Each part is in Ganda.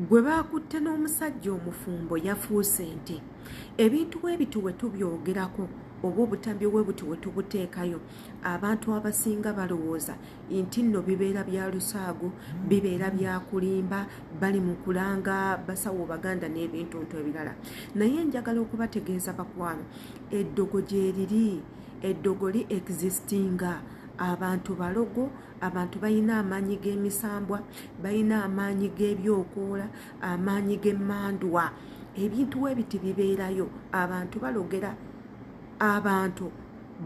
gwe baakutte n'omusajja omufumbo yafuuse nte ebintu bwe bityo bwe tubyogerako oba obutambi bwe butyo bwe tubuteekayo abantu abasinga balowooza nti nno bibeera bya lusaago bibeera bya kulimba bali mu kulanga basawo baganda n'ebintuntu ebirala naye njagala okubategeeza bakwano eddogo gyeriri eddogo li existinga abantu balogo abantu balina amaanyi g'emisambwa balina amaanyi g'ebyokoola amaanyi g'emmandwa ebintu we biti bibeerayo abantu balogera abantu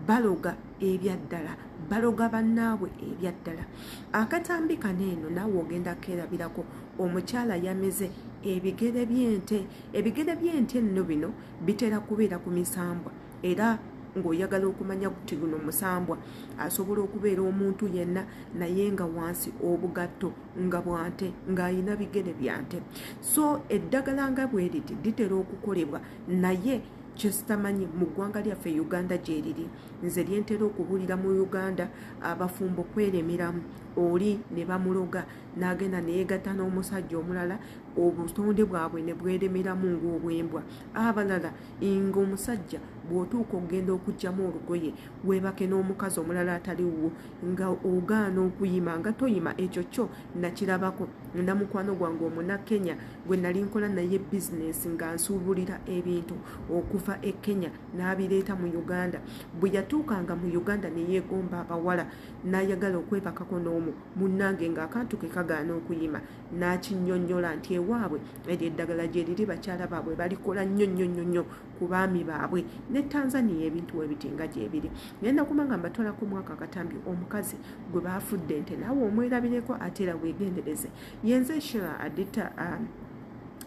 baloga ebyaddala baloga bannaabwe ebyaddala akatambi kano eno naawe ogenda keerabirako omukyala yamize ebigere by'ente ebigere by'ente nno bino bitera kubeera ku misambwa era ng'oyagala okumanya kuti guno musambwa asobola okubeera omuntu yenna naye nga wansi obugatto nga bwante ng'alina bigere byante so eddagala nga bweriti litera okukolebwa naye kyesitamanyi mu ggwanga lyaffe uganda gyeriri nze lyentera okubuulira mu uganda abafumbo kweremeramu oli ne bamuloga n'agenda neyegatta n'omusajja omulala obutonde bwabwe ne bweremeramu ng'obwembwa abalala nga omusajja bw'otuuka okugenda okugyamu olugoye weebake n'omukazi omulala atali wuwo nga ogaana okuyima nga toyima ekyo kyo nakirabako na mukwano gwange omuna kenya gwe nali nkola naye bizinesi nga nsuubulira ebintu okuva e kenya n'abireeta mu uganda bwe yatuukanga mu uganda ne yeegomba abawala n'ayagala okwebakako n'omu munnange ng'akantu ke kagaana okuyima n'akinnyonnyola nti ewaabwe eryo eddagala gye liri bakyala baabwe balikola nnyo nnyo nnyo nnyo ku baami baabwe ne tanzania ebintu we biti nga gyebiri ngenda kuba nga mbatwalako mwaka katambi omukazi gwe baafudde nte naawe omwerabireko ate era weegendereze yenze shira adita um,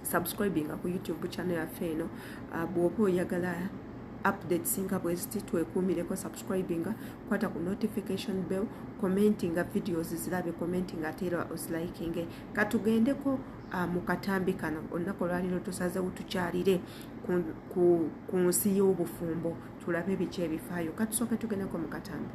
subscribing ku youtube channel yaffe eno uh, bw'oba oyagala updates nga bweziti twekuumireko subscribinga kwata ku notification bell commentinga videos zilabe commentinga ate era ozilikinge katugendeko uh, mu katambi kano olunaku olwaliro tusazewo tukyalire ku, ku, ku nsi y'obufumbo tulabe biki ebifaayo katusooke tugendeko mu katambi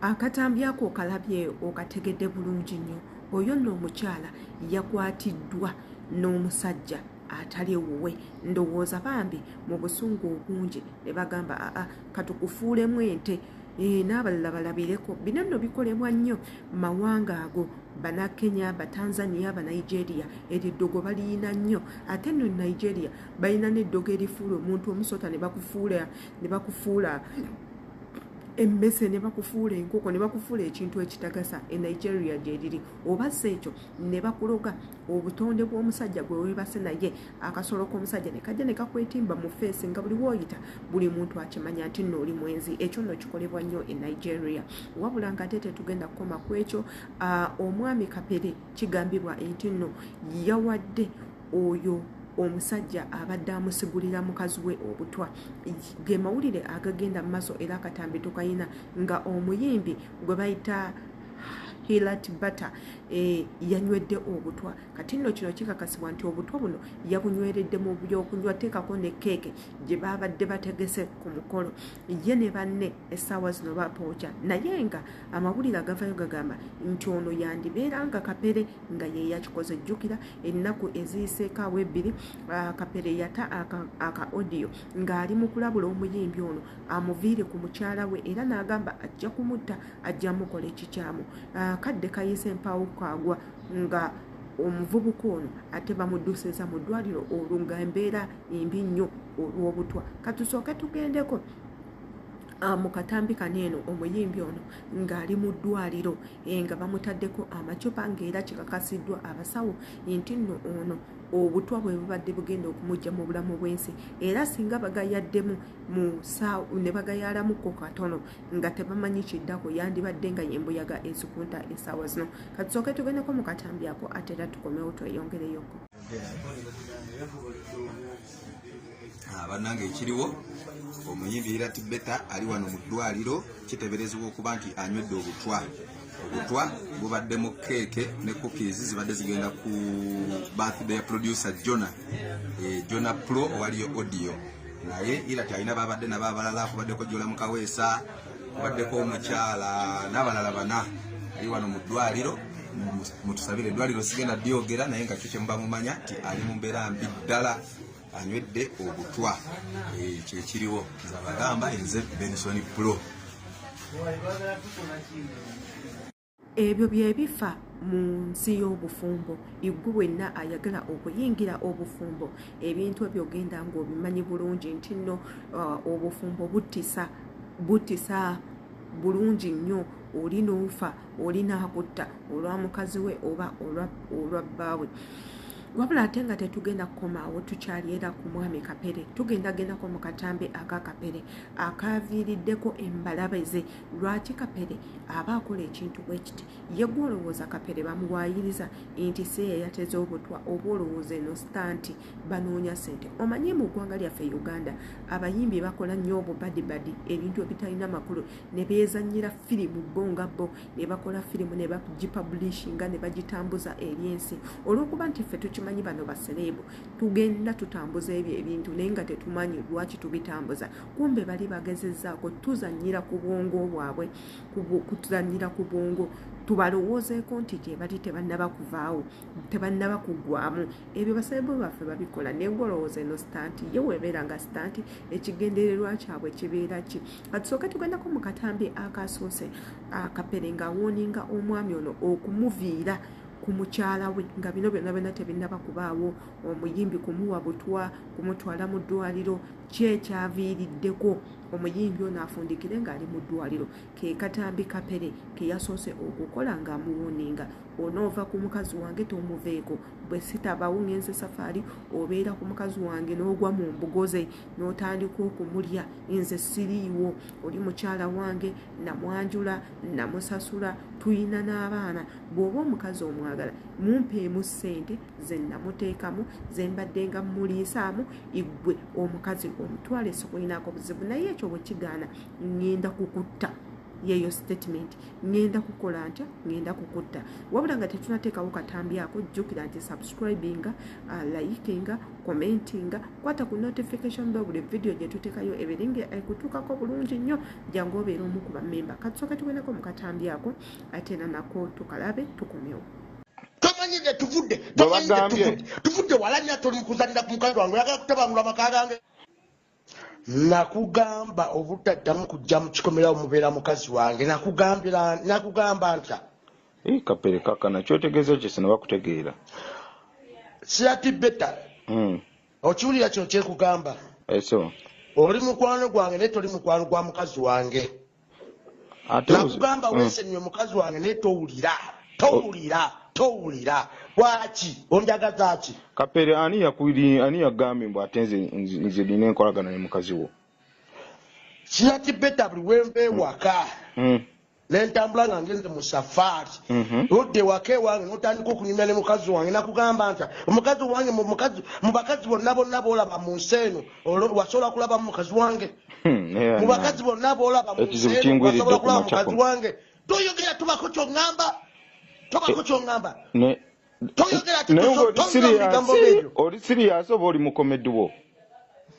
akatambi ako okalabye okategedde bulungi nnyo oyo nno omukyala yakwatiddwa n'omusajja atali ewuwe ndowooza bambi mu busungu obungi ne bagamba aa katukufuulemu ente eh, n'abalala balabireko bino nno bikolebwa nnyo mawanga ago banakenya batanzania banigeria eryo eddogo baliyina nnyo ate no nigeria balina n'eddogo erifuula omuntu omusota ne bakufuula ne bakufuula emmese ne bakufuula enkoko ne bakufuula ekintu ekitagasa e nigeria gyeriri obasa ekyo ne bakuloga obutonde bw'omusajja gwe weebase naye akasolo k'omusajja ne kajja ne kakwetimba mu feesi nga buli wooyita buli muntu akimanya nti nno oli mwenzi ekyo nno kikolebwa nnyo e nigeria wabula nga ate tetugenda kukoma ku ekyo omwami kapere kigambibwa nti nno yawadde oyo omusajja abadde amusigulira mukazi we obutwa ge mawulire agagenda mu maaso era akatambi tukayina nga omuyimbi gwe bayita hilat bata e, yanywedde obutwa kati nno kino kikakasibwa nti obutwa buno yabunyweredde mu byokunywa teekako ne keeke gye baabadde bategese ku mukolo ye ne banne essaawa zino bapooca naye nga amawulire agavayo gagamba nti ono yandibeera nga kapere nga ye yakikoze jjukira ennaku eziyiseeko awo ebbiri ah, kapere yata aka odiyo ng'ali mu kulabula omuyimbi ono amuviire ku mukyala we era n'agamba ajja kumutta ajja mukola ekikyamu ah, kadde kayise mpaawo kwagwa nga omuvubuka ono ate bamudusiza mu ddwaliro olwo nga embeera embi nnyo olw'obutwa katusooke tugendeko Ah, mu katambi kano eno omuyimbi ono ng'ali mu ddwaliro eh, nga bamutaddeko amacupa ng'era kikakasiddwa abasawo nti nno ono obutwa bwe bubadde bugenda okumujja mu bulamu bw'ensi era singa bagayaddemu ne bagayalamukko katono nga tebamanyi kiddako yandibadde nga yembuyaga ezikunta esaawa zino katusooke tugendeko mu katambi ako ate era tukomewo tweyongereyoko ah, banange ekiriwo omuyimbi irati beta ali wano mu ddwaliro kiteberezebwa okuba nti anywedde obutwa obutwa bubaddemu keeke ne cookies zibadde zigenda ku birthday ya producer jona eh, jona pro owaliyo audio naye ila kyalina babadde nabo abalala kubaddeko jola mukaweesa kubaddeko omukyala n'abalala bana ali wano mu ddwaliro mutusabire eddwaliro sigenda dyogera naye nga kyo kyemuba mumanya nti ali mu mbeera mbi ddala anywedde obutwa eh, kyekiriwo zabagamba enze benson pro ebyo byebifa mu nsi y'obufumbo iggu wenna ayagala okuyingira obufumbo ebintu ebyo ogenda ng'obimanyi bulungi nti nno uh, obufumbo buttisa buttisa bulungi nnyo oli n'ofa oli n'akutta olwa mukazi we oba olwa bbaawe wabula ate nga tetugenda kukomaawo tukyali era ku mwami kapere tugendagendako mu katambi aka kapere akaviiriddeko embalabe ze lwaki kapere aba akola ekintu bwekiti yegwe olowooza kapere bamuwayiriza nti si yeyateza obutwa oba olowooza eno sita nti banoonya sente omanye mu ggwanga lyaffe uganda abayimbi bakola nnyo obubadibadi ebintu ebitalina makulu ne beezanyira firimu bo nga bo ne bakola firimu ne bagipublishinga ne bagitambuza eri ensi olw'okuba nti ffe tukimanyi bano basereebu tugenda tutambuza ebyo ebintu naye nga tetumanyi lwaki tubitambuza kumbe bali bagezezaako tuzanyira ku bwongo bwabwe kutuzanyira ku bwongo tubalowoozeeko nti gyebali tebannaba kuvaawo tebannaba kuggwamu ebyo basebo baffe babikola naye ngolowooza eno sitanti ye webeera nga sitanti ekigendererwa kyabwe kibeera ki katusooke tugendako mu katambi akasoose akapere nga awooninga omwami ono okumuviira ku mukyala we nga bino byonna byonna tebinnaba kubaawo omuyimbi kumuwa butwa kumutwala mu ddwaliro kyekyaviiriddeko omuyimbi ono afundikire ng'ali mu ddwaliro ke katambi kapere ke yasoose okukola ng'amuwoninga onoova ku mukazi wange tomuveeko bwe sitabawo ngenze safaari obeera ku mukazi wange n'ogwa mu mbugo ze n'otandika okumulya nze siriiwo oli mukyala wange namwanjula namusasula tulina n'abaana bw'oba omukazi omwagala mumpeemu ssente ze namuteekamu ze mbadde nga muliisaamu igwe omukazi omutwale sikulinaako buzibu naye ekyo bwe kigaana ŋŋenda kukutta yeeyo sitatimenti ŋŋenda kukola ntya ŋŋenda kukutta wabula nga tetunateekawo katambi ako jjukira nti subscribinga uh, likinga commentinga kwata ku notification bell buli vidiyo gye tuteekayo ebere nga ekutuukako bulungi nnyo jangu obeera omu ku bamemba katusooke tugendako mu katambi ako ate nanako tukalabe tukomewo tomanyi ne tuvudde tomanyi ne tuvudde tuvudde walanya toli kuzanira ku mukazi wange oyagala kutabangula amaka gange nakugamba obutaddamu kujja mu kikomerawo mubeera mukazi wange nakugambira nakugamba ntya eh, kapere kakana kyotegeeza kyese ne bakutegeera siyati beta hmm. okiwulira kino kyekugamba eh, oli mukwano gwange naye toli mukwano gwa mukazi wange nakugamba mm. wesenyiwe mukazi wange naye towulira towulira towulira lwaki onjagazaki kapere ani yakwiri ani yagambye mbu ate nze nze nina enkolagana ne mukazi wo kiyaki beta buli wenva ewaka mm. mm. nentambula nga ngenze mu safaari mm-hmm. odda ewaka ewange notandika okunyumya ne mukazi wange nakugamba nti omukazi wange mu bakazi bonna bonna boolaba mu nsi eno wasobola kulaba mu mukazi wange Hmm, mu bakazi bonna boolaba mu nsi eno basobola kulaba mukazi wange toyogera tubako kyoŋŋamba tobako eh, kyoŋŋamba toyogera titobigambo ebyo oli siriyasi oba oli mukomedi wo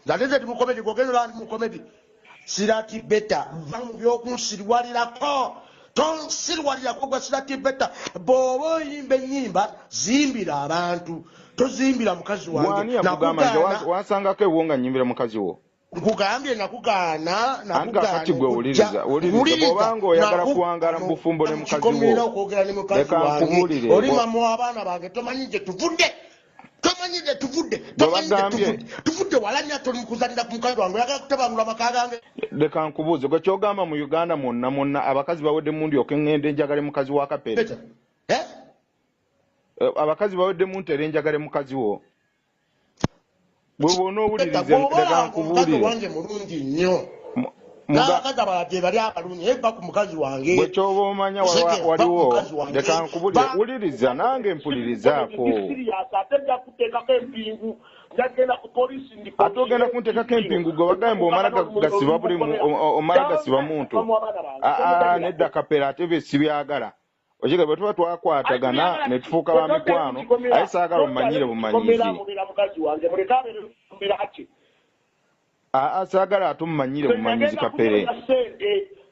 ate nze ndi mukomedi gwogenda olaba ndi mukomedi sirati beta va mu byokunsiriwalirako tonsiriwalirako gwa sirati beta bw'oba oyimba ennyimba zimbira abantu tozimbira mukazi wange nakugaana wasangako ewo nga nyimbira mukazi wo nkugambye nakugaana nakati gwe wuliriza wulirizaobanga oyagala kuwangala mu bufumbo ne mukazi wokikomera okwogera ne mukazi wange oli mama w'abaana bange tomanyi gye tuvudde tomanyi gye tuvudde tomanyi gye tuvudde tuvudde walanya toli mukuzanira ku mukazi wange oyagala kutabangula amaka gange leka nkubuuze gwe kyogamba mu uganda mwonna mwonna abakazi bawedde mundi okengenda enjagale mukazi wa kapere eh? Eh, abakazi bawedde muntere enjagale mukazi wo gwe bwona owulirizeankubuulire wange mulungi nnyo n'abakazi abala gyebali abalungi naye va ku mukazi wange bwe kyoba omanya waliwo leka nkubulire wuliriza nange mpulirizaako ate nja kuteekako empingu ate ogenda kuntekako empingu gwe wagaye mbu omala gasiba buli omala gasiba muntu nedda kapera ate bye sibyagala okiga bwe tuba twakwatagana ne tufuuka ba mikwano aye saagala omanyire bumanyizi aa saagala ate omumanyire bumanyizi kapere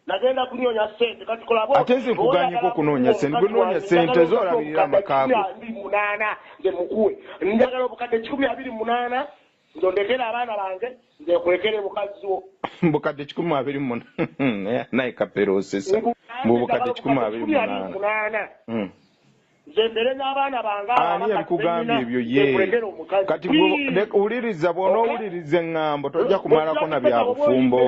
nagenda kunoonya sente kati kolabo ate nze nkuganyeko kunoonya sente gwe noonya sente zoolabirira amakaago munaana nze mukuwe njagala obukadde kikumi abiri munaana Nze ondekere abaana bange nze nkulekere mukazzi wo. Mbu kadde kikumi abiri mu munaana naye kapere osesa mbu bukadde kikumi abiri mu munaana hmm. nze mbere n'abaana bange ani yabikugambye ebyo ye kati wuliriza bw'onoowuliriza eŋŋambo tojja kumalako na bya bufumbo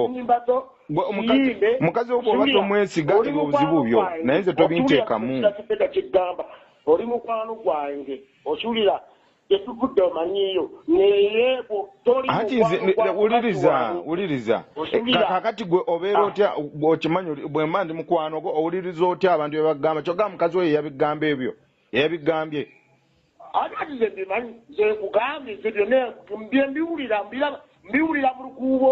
mukazi wo bw'oba tomwesiga ebyo obuzibu byo naye nze tobinteekamu oli mukwano gwange okiwulira gyetuvudde omanyiyo neyebo anti wuliriza wuliriza kakati gwe obeera ah. otya okimanyi bwemba ndi mukwano gwo owuliriza otya abantu byebagamba kyoga mukazi oyo yabigamba ebyo yabigambye ati kati ze mbimanyi zekugambye ze byona byembiwulira mbiwulira mu lukuubo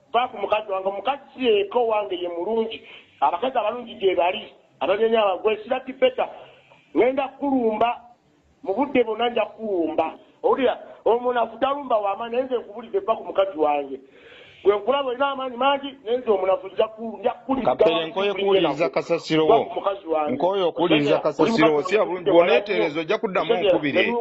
Vva ku mukazi wange omukazi si yeyekka owange ye mulungi abakazi abalungi gyebali abanyonya abagwe sirabd better ngenda kukulumba mu budde bwonna nja kukulumba owulira omunafu talumba wama naye nze nkubulize vva ku mukazi wange gwe nkulaba olina amaanyi mangi naye nze omunafu nja kapere nkoye kuwuliriza kasasiro wo nkoye okuwuliriza kasasiro wo si abulungi bwonetereza ojja kuddamu nkubire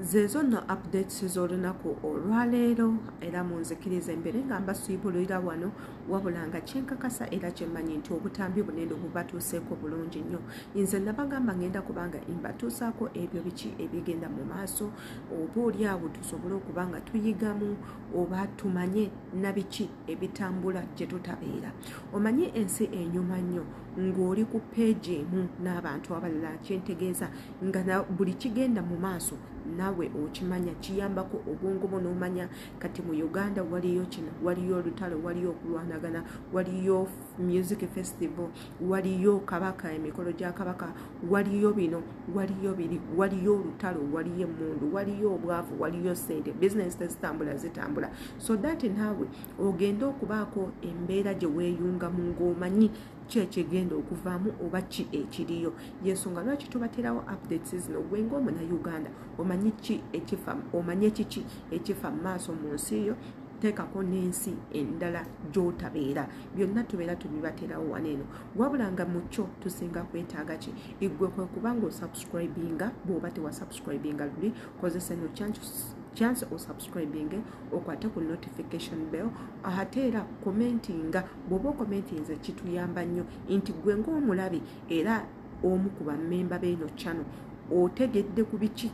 zeezo nno updates z'olunaku olwaleero era munzikiriza embere nga mbasiibulira wano wabula nga kyenkakasa era kyemmanyi nti obutambi bunene bubatuuseeko bulungi nnyo nze nabagamba ngenda kubanga imbatuusaako ebyo biki ebigenda mu maaso oba oli awo tusobole okuba nga tuyigamu oba tumanye nabiki ebitambula gye tutabeera omanye ensi enyuma nnyo ng'oli ku peegi emu n'abantu abalala kyentegeeza nga na buli kigenda mu maaso nawe okimanya kiyambako obwongo bwo n'omanya kati mu uganda waliyo kino waliyo olutalo waliyo okulwanagana waliyo music festival waliyo kabaka emikolo gya kabaka waliyo bino waliyo biri waliyo olutalo waliyo emmundu waliyo obwavu waliyo sente bizinesi tezitambula zitambula so that naawe ogende okubaako embeera gye weeyungamu ng'omanyi ki ekigenda okuvaamu oba ki ekiriyo yensonga lwaki tubaterawo updates zino gwe ngaomuna uganda omanyi ki ekifa omanyi ekiki ekifa mu maaso mu nsi yo teekako n'ensi endala gy'otabeera byonna tubeera tubibaterawo wano eno wabula nga mu kyo tusinga kwetaaga ki iggwe kwe kuba nga osubscribinga bw'oba tewasubscribinga luli kozesa eno chance osubscribinge okwate ku notification bell ate era commentinga bwoba okomentinze kituyamba nnyo nti gwe ngaomulabi era omu ku bamemba beeno channel otegedde ku biki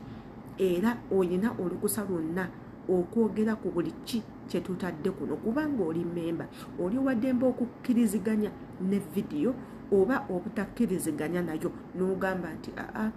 era olina olukusa lwonna okwogera ku buli ki kyetutadde kuno kubanga oli memba oli wademba okukkiriziganya ne vidiyo oba obutakkiriziganya nayo n'ogamba nti aa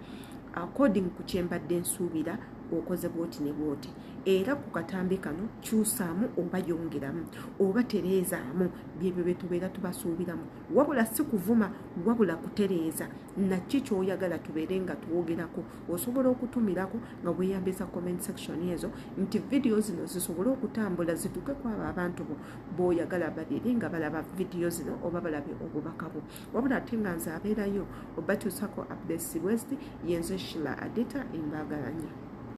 according ku kyembadde nsuubira okoze bwoti ne bwoti era ku katambi kano kyusaamu oba yongeramu oba tereezaamu byebyo bye tubeera tubasuubiramu wabula si kuvuma wabula kutereeza nakki kyoyagala tubeere nga twogerako osobola okutumirako nga weyambisa comment section ezo nti vidiyo zino zisobole okutambula zituuke ku abo abantu bo boyagala babeere nga balaba vidiyo zino oba balabe obubaka bwo wabula ate nga nze abeerayo obakyusako updates west yenze shila adita embagalanya